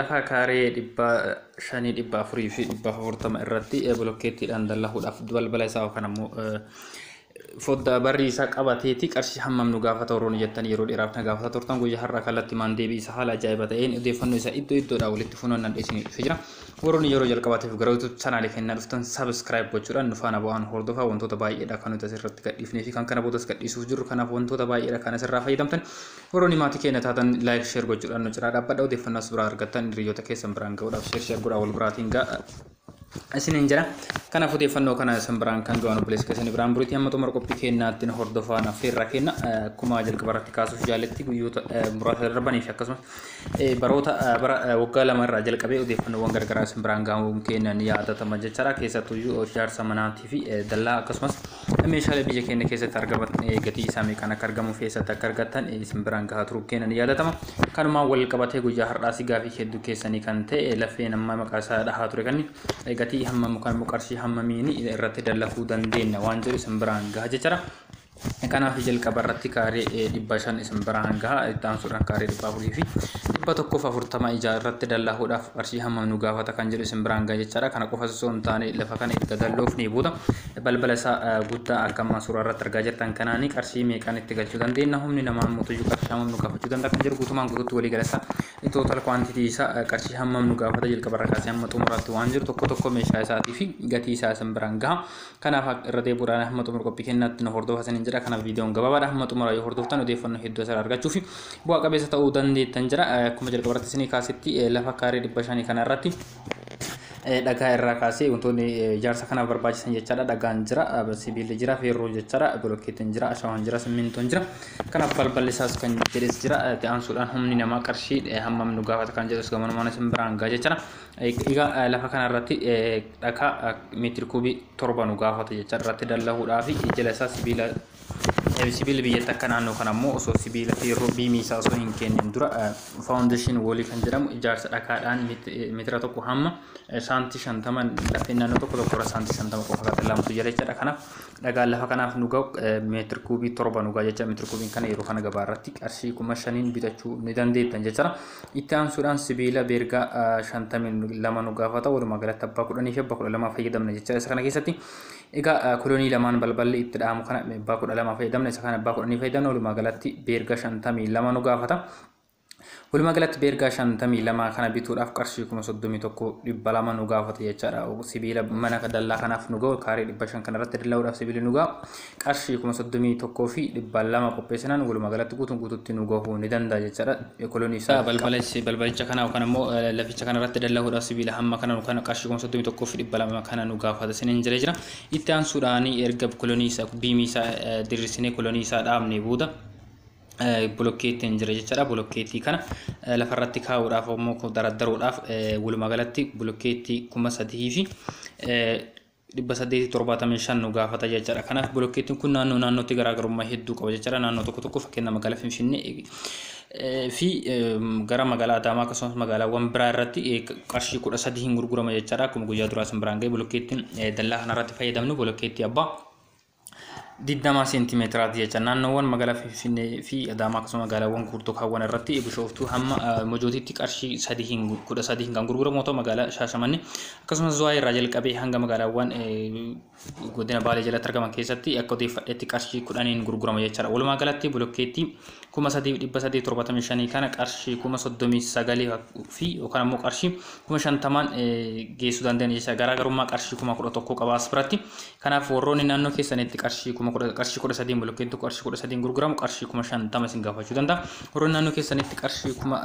Lafa kaaree 500, 400 fi 440 irratti bilokkeettiidhaan dallahuudhaaf balbala isaa yookaan ammoo foddaa barrii isaa qabateeti qarshii hammam nu gaafata warroonni jettanii yeroo dheeraaf na gaafataa turtan guyyaa har'aa kallattii maan deebii isa haala ajaa'iba ta'een odeeffannoo isaa iddoo iddoodhaa walitti funaannaan dhiyeessinii dhufe jira. Warroonni yeroo jalqabaatiif gara YouTube chaanaalii kennaa dhuftan subscribe gochuudhaan nu faana bu'aan hordofaa wantoota baay'eedha kan nuti asirratti gadhiifnee fi kan kana boodas gadhiisuuf jirru kanaaf wantoota baay'eedha kan asirraa fayyadamtan Warroonni maatii keenya taatan like share gochuudhaan nu cinaa dhaabbadha odeeffannoo as biraa argattan hiriyoota keessan biraan ga'uudhaaf share share godhaa wal biraatiin ga'a isiniin jira. Kanaaf odeeffannoo kana isin biraan kan ga'an obboleessa keessan biraan buriitti hamma xumura qophii keenyaatti nu hordofaa naaf feerraa kenna akkuma jalqaba irratti kaasuuf jaaletti guyyoota muraasa darbanii fi akkasumas baroota bara waggaa lama irraa jalqabee odeeffannoowwan garagaraa isin biraan ga'uun keenya ni yaadatama jechaadha keessattuu ijaarsa manaatii fi dallaa akkasumas Meeshaalee biyya keenya keessatti argaman gatii isaa meeqaan akka argamu fi eessatti akka argattan isin biraan gahaa turuu keenya ni yaadatama. Kanumaan wal qabatee guyyaa har'aas gaafii hedduu keessanii kan ta'e lafeen amma maqaa isaa dhahaa ture kan gatii hammam yookaan immoo qarshii hammamiin irratti dallakuu dandeenya waan jedhu isin biraan gaha jechuudha. Kanaaf jalqaba irratti kaaree dhibba shan isin biraan gaha itti aansuudhaan kaaree dhibba afurii fi dhibba tokkoof afurtama ijaa irratti dallahuudhaaf qarshii hammam nu gaafata kan jedhu isin biraan gaha jechuudha. Kana qofas osoo hin taane lafa kana erga dalloofnee booda balbala isaa guddaa akka ammaa suuraa irratti argaa jirtan kanaanii qarshii meeqaan itti galchuu dandeenya humni namaa immoo tuyyuu qarshii hammam nu gaafachuu danda'a kan jedhu guutumaan guutuutti walii galata tootal kwaantitii isaa qarshii hammam nu gaafata jalqaba irra kaasee hamma xumuraatti waan jiru tokko tokko meeshaa isaatii fi gatii isaa isin biraan gaha kanaaf irra deebuudhaan hamma xumura qophii kennaatti nu hordofa isiniin jedha kanaaf viidiyoon gabaabaadha hamma xumura yoo hordoftan odeeffannoo hedduu asirraa argachuu fi bu'aa qabeessa ta'uu dandeettan jira akkuma jalqaba irratti isinii kaasetti lafa kaaree dhibba shanii kana irratti dhagaa irraa kaasee wantoonni ijaarsa kanaaf barbaachisan jechaadha. Dhagaan jira, sibiilli jira, feerroo jechaadha, bolokkeetiin jira, ashawaan jira, simmintoon jira. Kanaaf balballi isaas kan jedhes jira. Itti aansuudhaan humni namaa qarshii hammam nu gaafata kan jedhus gamanumaan isin biraan ga'a jechaadha. Egaa lafa kanarratti dhagaa meetiri kuubii torba nu gaafata jechaadha. Irratti dallahuudhaa fi jala isaa sibiila Sibiilli biyyatti akka naannoo kana immoo osoo sibiila feerroo biimii isaa osoo hin kennin dura faawundeeshin woolii kan jedhamu ijaarsa dhakaadhaan meetira tokko hamma saantii shantama lafeen naannoo tokko tokko irra saantii shantama qofa kan lamtu jira jechaadha. Kanaaf dhagaan lafa kanaaf nu ga'u meetir kuubii torba nu ga'a jecha meetir kuubiin kana yeroo kana gabaa irratti qarshii kuma shaniin bitachuu ni dandeettan jechaadha. Itti aansuudhaan sibiila beergaa shantamii lama nu gaafata walumaa galatti abbaa kudhanii fi abbaa kudha lamaa fayyadamna jechaadha. Isa kana keessatti Egaa kolonii lamaan balballi itti dha'amu kana meebbaa kudha lama fayyadamna isa kana abbaa kudhanii fayyadamna walumaa galatti beerga shantamii lama nu gaafata. Walumaa galatti beergaa shantamii lama kana bituudhaaf qarshii kuma soddomii tokko dhibba lama nu gaafata jechaadha. Sibiila mana dallaa kanaaf nu ga'u kaarii dhibba shan kanarratti dalla'uudhaaf sibiili nu ga'a. Qarshii kuma soddomii tokkoo fi dhibba lama qopheessinaan walumaa galatti guutuun guututti nu gahuu ni danda'a jechaadha. ekolonii isaa Taa balbala is- balbalicha kana yookaan ammoo eh, laficha kana irratti dallahuudhaaf sibiila hamma kana nu kana qarshii kuma soddomii tokkoo fi dhibba lama kana nu gaafata isiniin jedhee jira. Itti aansuudhaan erga kolonii isaa biimii isaa eh, diriirsinee kolonii isaa dhaabnee booda eh, bolokkeettiin jira jechaadha. Bolokkeettii kana eh, lafarratti kaa'uudhaaf ammoo kun daraddaruudhaaf eh, walumaa galatti bolokkeettii kuma sadii fi eh, 875 nu gaafata jechaadha. Kanaaf bilokkeettiin kun naannoo naannootti garaagarummaa hedduu qaba jechaadha. Naannoo tokko tokko fakkeenya magaalaa Finfinnee fi gara magaalaa Adaamaa akkasumas magaalaawwan biraa irratti qarshii kudha sadii hin gurgurama jechaadha. Akkuma guyyaa duraa isin biraan ga'e bilokkeettiin dallaa kanarratti fayyadamnu bilokkeettii abbaa 20 seentimeetiraati jecha naannoowwan magaalaa Finfinnee fi Adaamaa akkasuma magaalaawwan guurtoo kaawwan irratti bishooftuu hamma mojootiitti qarshii 13 kan gurguramu yoo ta'u magaalaa Shaashamannee akkasumas Zuwaayii irraa jalqabee hanga magaalaawwan godina Baalee jalatti argaman keessatti akka odeeffadhetti qarshii 10n gurgurama jechaadha. Walumaa galatti bilokkeettii 3875 kana qarshii 39 fi yookaan ammoo qarshii 50n geessuu danda'an jecha garaagarummaa qarshii 11 qabaas biratti Kanaaf warroonni naannoo keessanitti qarshii kuma kudha qarshii kudha sadiin bolokkeen tokko qarshii kudha sadiin gurguramu qarshii kuma shantama isin gaafachuu danda'a. Warroonni naannoo keessanitti qarshii kuma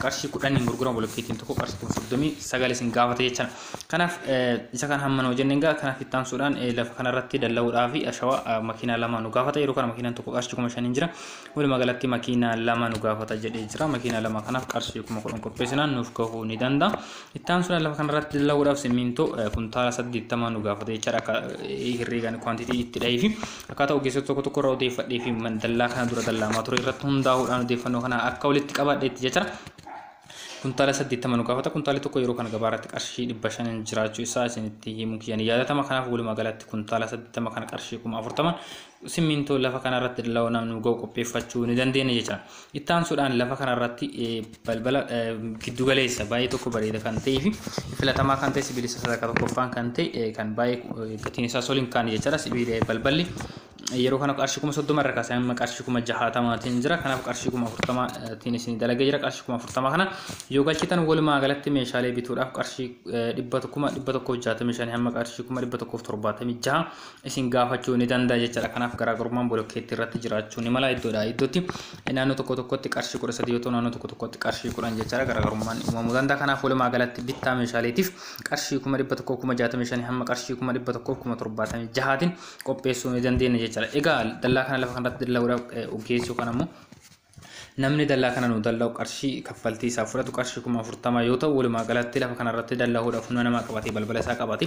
qarshii kudhaniin gurguramu bolokkeetiin tokko qarshii kuma soddomii sagal isin gaafata jechaan. Kanaaf isa kana hamma noo jenneen gaa kanaaf itti aansuudhaan lafa kanarratti dalla'uudhaa fi ashawaa makiinaa lama nu gaafata yeroo kana makiinaan tokko qarshii kuma shaniin jira. Walumaa galatti makiinaa lama nu gaafata jedhee jira. Makiinaa lama kanaaf qarshii kuma kudhan qopheessinaan nuuf gahuu ni danda'a. Itti aansuudhaan lafa kanarratti dalaguudhaaf simmintoo kuntaala 80 nu gaafata jechaadha akka herreegaan kwantitii itti dhahee fi akkaataa ogeessota tokko tokko irraa odeeffadhee fi dallaa kana dura dallaamaa ture irratti hundaa'uudhaan odeeffannoo kana akka walitti qabaadheetti jechaadha. Kuntaala 80 nu gaafata kuntaalli tokko yeroo kana gabaa irratti qarshii 500 jiraachuu isaa isinitti himuu kiyyaan yaadatama kanaaf walumaa galatti kuntaala 80 kana qarshii 40 Simmintoo lafa kanarratti dalaonaaf nu ga'u qopheeffachuu ni dandeenya jecha. Itti aansuudhaan lafa kanarratti balbala giddu galeessa baay'ee tokko bareeda kan ta'ee fi filatamaa kan ta'e sibiilisa sadarkaa tokkoffaan kan ta'e kan baay'ee gatiin isaa soliin kaan jechaadha. Sibiila balballi yeroo kana qarshii kuma soddoma irra kaasee amma qarshii kuma jahaatamaatiin jira. Kanaaf qarshii kuma afurtamaatiin isin dalagee jira. Qarshii kuma afurtamaa kana yoo galchitan walumaa galatti meeshaalee bituudhaaf qarshii dhibba kuma dhibba tokkoof jaatamii shanii hamma qarshii kuma dhibba tokkoof torbaatamii jaha isin gaafachuu ni danda'a jechaadha. Kanaaf garaagarummaan bolokkeettii irratti jiraachuu ni mala iddoodha iddootti. Naannoo tokko tokkotti qarshii kudha sadii yoo ta'u naannoo tokko tokkotti qarshii kudhan jechaadha garaagarummaan uumamuu danda'a. Kanaaf walumaa galatti bittaa meeshaaleetiif qarshii kuma dhibba tokkoo kuma jaatamii shanii hamma qarshii kuma dhibba tokkoo kuma torbaatamii jahaatiin qopheessuu ni dandeenya jechaadha. Egaa dallaa kana lafa kanarratti dalla'uudhaaf ogeessi yookaan ammoo Namni dallaa kana nuu dalla'u qarshii kaffaltii isaa fudhatu qarshii kuma afurtama yoo ta'u walumaa galatti lafa kana irratti dallahuudhaaf humna namaa qabatee balbala isaa qabate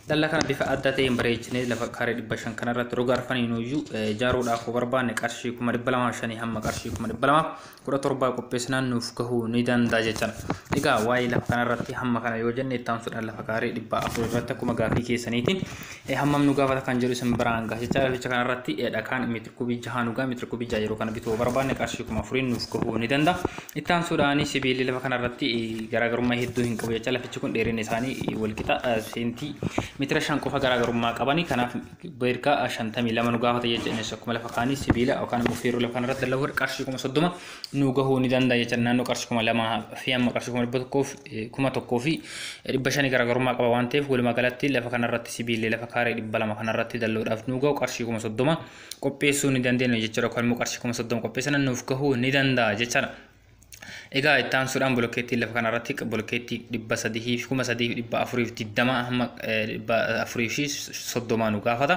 dallaa kana bifa adda ta'een bareechinee lafa kaaree dhibba shan kana irratti roga arfanii nuyyuu ijaaruudhaaf barbaanne qarshii kuma dhibba lamaa shanii hamma qarshii kuma dhibba lamaa kudha torbaa qopheessinaan nuuf gahuu ni danda'a jechaan egaa waa'ee lafa kana irratti hamma kana yoo jenne itti aansuudhaan lafa kaaree dhibba afur irratti akkuma gaafii keessaniitiin hammam nu gaafata kan jedhu isin biraan gaha jechaa laficha kana irratti dhakaan Kubii jahaan dhugaa meetira kubii jaha yeroo kana bituu barbaanne qarshii kuma afuriin nuuf gahuu ni danda'a. Itti aansuudhaan sibiilli lafa kanarratti garaagarummaa hedduu hin qabu jecha lafichi kun dheerinni isaanii walqixa seentii meetira shan qofa garaagarummaa qabani kanaaf beerkaa shantamii lama nu gaafata jecha innis akkuma lafa kaanii sibiila yookaan immoo feeruu lafa kanarratti dalaguudha qarshii kuma soddoma nuu gahuu ni danda'a jechuudha naannoo qarshii kuma lamaa fi amma qarshii kuma dhibba tokkoof kuma tokkoo fi dhibba shanii garaagarummaa qaba waan ta'eef walumaa galatti lafa kanarratti sibiillee lafa kaaree dhibba lama kanarratti dalloodhaaf nuu gahu qarshii kuma soddoma qopheessuu ni dandeenya jechuudha yookaan immoo qarshii kuma soddoma qopheessana nuuf gahuu ni danda'a jechuudha. Egaa itti aansuudhaan bolokkeettiin lafa kanarratti bolokkeettii dhibba sadii fi kuma sadii fi dhibba afurii fi digdama hamma dhibba afurii fi soddomaa nu gaafata.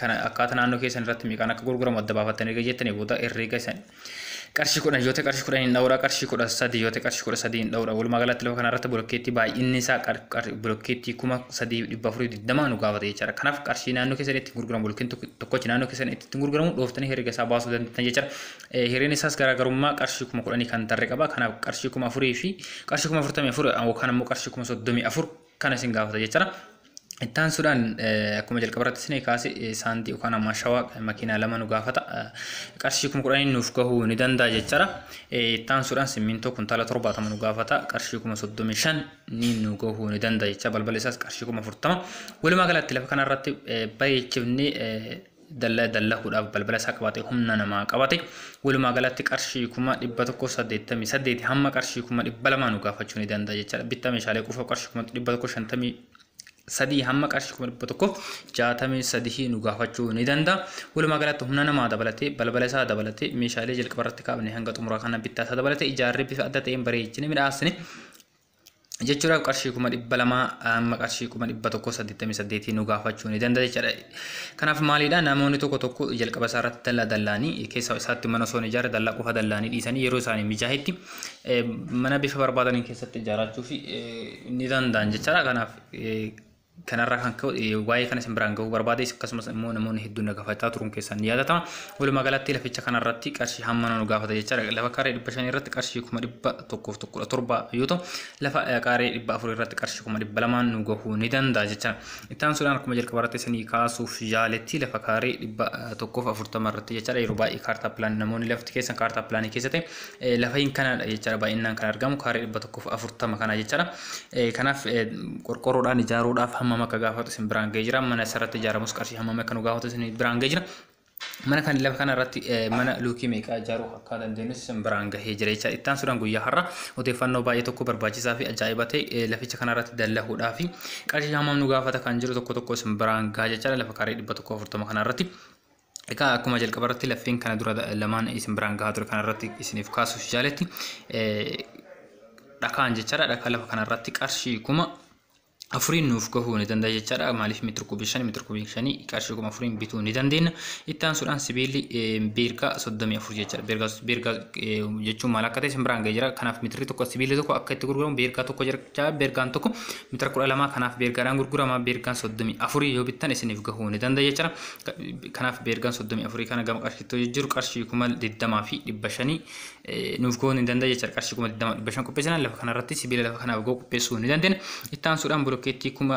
kana akkaata naannoo keessan irratti meeqaan akka gurguramu adda baafattanii erga jettanii booda herreega isan qarshii kudhan yoo ta'e qarshii kudhan hin dhawuraa qarshii kudha sadii yoo ta'e qarshii kudha sadii hin dhawuraa walumaa galatti lafa kana irratti bilokkeettii baay'inni isaa bilokkeettii kuma sadii dhibba afurii digdamaa nu gaafata jechaadha kanaaf qarshii naannoo keessan itti gurguramu bilokkeetti tokkochi naannoo keessan itti gurguramu dhooftanii herreega isaa baasuu dandeettan jechaadha hireen isaas garaagarummaa qarshii kuma kudhanii kan tarre qaba kanaaf qarshii kuma afurii fi qarshii kuma afurtamii afur yookaan immoo qarshii kuma soddomii afur kana isin gaafata jechaadha. Itti aansuudhaan akkuma jalqaba irratti isin kaase saantii yookaan ammaa shawaa makiinaa lama nu gaafata. Qarshii kuma kudhaniin nuuf gahuu ni danda'a jechaadha. Itti aansuudhaan simmintoo kuntaala torbaatama nu gaafata. Qarshii kuma soddomii shan ni nu gahuu ni danda'a jecha balbala isaas qarshii kuma afurtama. Walumaa galatti lafa kanarratti bareechifnee dalla dallakuudhaaf balbala isaa qabate humna namaa qabate walumaa galatti qarshii kuma dhibba tokko saddeettamii saddeeti hamma qarshii kuma dhibba lamaa nu gaafachuu ni danda'a jechaadha bittaa meeshaalee qofa qarshii kuma dhibba tokko shantamii sadii hamma qarshii kuma dhibba tokko jaatamii sadii nu gaafachuu ni danda'a walumaa galatti humna namaa dabalatee balbala isaa dabalatee meeshaalee jalqaba irratti kaafne hanga xumuraa kana bittaa isaa dabalatee ijaarree bifa adda ta'een bareechine midhaasne jechuudhaaf qarshii kuma dhibba lamaa amma qarshii kuma dhibba tokko saddeettamii saddeetii nu gaafachuu ni danda'a jechaadha. Kanaaf maalidha namoonni tokko tokko jalqaba isaa irratti dallaa dallaanii keessa isaatti mana osoo hin ijaarre dallaa qofa dallaanii dhiisanii yeroo isaanii mijaahetti mana bifa barbaadaniin keessatti ijaarachuu fi ni danda'an jechaadha. Kanaaf Kanarraa kan ka'e waa'ee kana isin biraan ga'uu barbaade akkasumas immoo namoonni hedduun na gaafachaa turuun keessan ni yaadatama. Walumaa galatti laficha kanarratti qarshii hamma nu gaafata jechaadha. Lafa kaaree dhibba shanii irratti qarshii kuma dhibba tokkoof kudha torba yoo ta'u lafa kaaree dhibba afur irratti qarshii kuma dhibba lamaan nu gahuu ni danda'a jechaadha. Itti aansuudhaan akkuma jalqaba irratti isinii kaasuuf yaaletti lafa kaaree dhibba tokkoof afurtama irratti jechaadha yeroo baay'ee kaartaa pilaanii namoonni lafti keessan kaartaa pilaanii keessatti Lafain kanadha jechaadha baay'inaan kan argamu kaaree dhibba tokkoof afurtama kana jechaadha. Kanaaf qorqorroodhaan ijaaruudhaaf hammam akka gaafatu isin biraan ga'ee jira. Mana isarratti ijaaramus qarshii hammam akka nu gaafatu isin biraan ga'ee jira. Mana kan lafa kana irratti mana luukii meeqaa ijaaruu akka dandeenyus isin biraan gahee jira jecha ittaan sudhan guyyaa har'a odeeffannoo baay'ee tokko barbaachisaa fi ajaa'iba ta'e laficha kana irratti dallahuudhaa fi qarshii hammam nu gaafata kan jiru tokko tokko isin biraan gahaa jechaadha lafa kaaree dhibba tokko afurtama kana irratti Egaa akkuma jalqaba irratti lafeen kana dura lamaan isin biraan gahaa ture kana irratti isiniif kaasuuf jaaletti dhakaan jechaadha dhakaa lafa kana irratti qarshii kuma afuriin nuuf gahuu ni danda'a jechaadha maaliif meetira kubii shanii meetira kubii shanii qarshii kuma afuriin bituu ni dandeenya itti aansuudhaan sibiilli beergaa soddomii afur jechaadha beergaa beergaa jechuun maal akka ta'e isin biraan ga'ee jira kanaaf meetirri tokko sibiilli tokko akka itti gurguramu beergaa tokko jira jecha beergaan tokko meetira kudha lamaa kanaaf beergaadhaan gurgurama beergaan soddomii afurii yoo bittan isiniif gahuu ni danda'a jechuudha. Kanaaf beergaan soddomii afurii kana gama qarshiitti yoo jijjiiru qarshii kuma digdamaa fi dhibba shanii nuuf gahuu ni danda'a jechuudha. Qarshii kuma digdamaa dhibba shan qopheessinaan lafa kanarratti sibiila lafa kanaaf gahu qopheessuu ni dandeenya. Itti aansuudhaan bulokkeettii kuma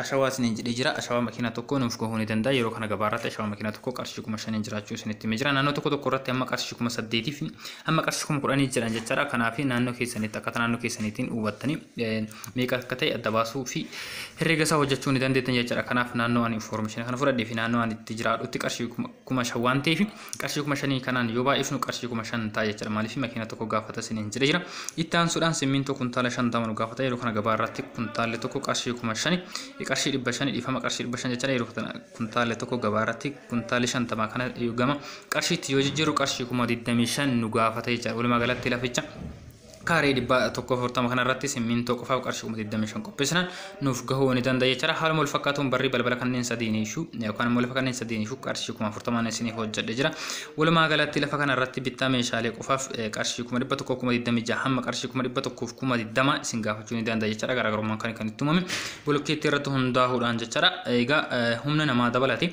Ashawaa isiniin jedhee jira. Ashawaa makiinaa tokkoo nuuf gahuu ni danda'a. Yeroo kana gabaa irratti ashawaa makiinaa tokkoo qarshii kuma shaniin jiraachuu isinitti himee jira. Naannoo tokko tokko irratti amma qarshii kuma saddeetii fi amma qarshii kuma kudhanii jedhan jechaadha. Kanaaf naannoo keessanitti akkaataa naannoo keessaniitiin hubattanii meeqa akka ta'e adda baasuu fi herreega isaa hojjechuu ni dandeettan jechaadha. Kanaaf naannoo ani information kana fudhadhee fi naannoo ani itti jiraadhutti qarshii kuma shan waan ta'eef qarshii kuma shanii kanaan yoo baay'ifnu qarshii kuma shan ta'a jechuudha maaliif makiina tokko gaafata isiniin jedhe jira itti aansuudhaan simmintoo kuntaala shantama nu gaafata yeroo kana gabaa irratti kuntaalli tokko qarshii kuma shani qarshii dhibba shani dhiifama qarshii dhibba shan jechuudha yeroo kana kuntaalli tokko gabaa irratti kuntaalli shantama kana gama qarshiitti yoo jijjiiru qarshii kuma digdamii shan nu gaafata jechuudha walumaa galatti laficha kaaree dhibba tokko afurtama kanarratti simmintoo qofaaf qarshii kuma 25 qopheessinaan nuuf gahuu ni danda'a jechaadha. Haaluma wal fakkaatuun barri balbala kanneen sadiin iyyuu yookaan immoo lafa kanneen sadiin iyyuu qarshii kuma afurtamaan isiniif hojjedhe jira. Walumaa galatti lafa kanarratti bittaa meeshaalee qofaaf qarshii kuma dhibba tokkoo kuma 26 hamma qarshii kuma dhibba tokkoof kuma 20 isin gaafachuu ni danda'a jechaadha. Garaagarummaan kan kan itti uumame bolokkeettii irratti hundaa'uudhaan jechaadha. Egaa humna namaa dabalate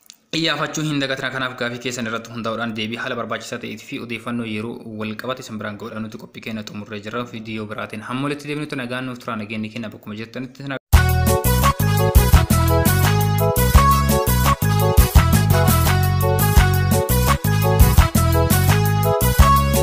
Iyyaafachuu hin dagatina kanaaf gaafii keessan irratti hundaa'uudhaan deebii haala barbaachisaa ta'eetii fi odeeffannoo yeroo wal qabate isin biraan ga'uudhaan nuti qophii keenya xumurree jirra viidiyoo biraatiin hamma walitti deebinutti nagaan nuuf turaa nageenyi keenya bakkuma jirtanitti isin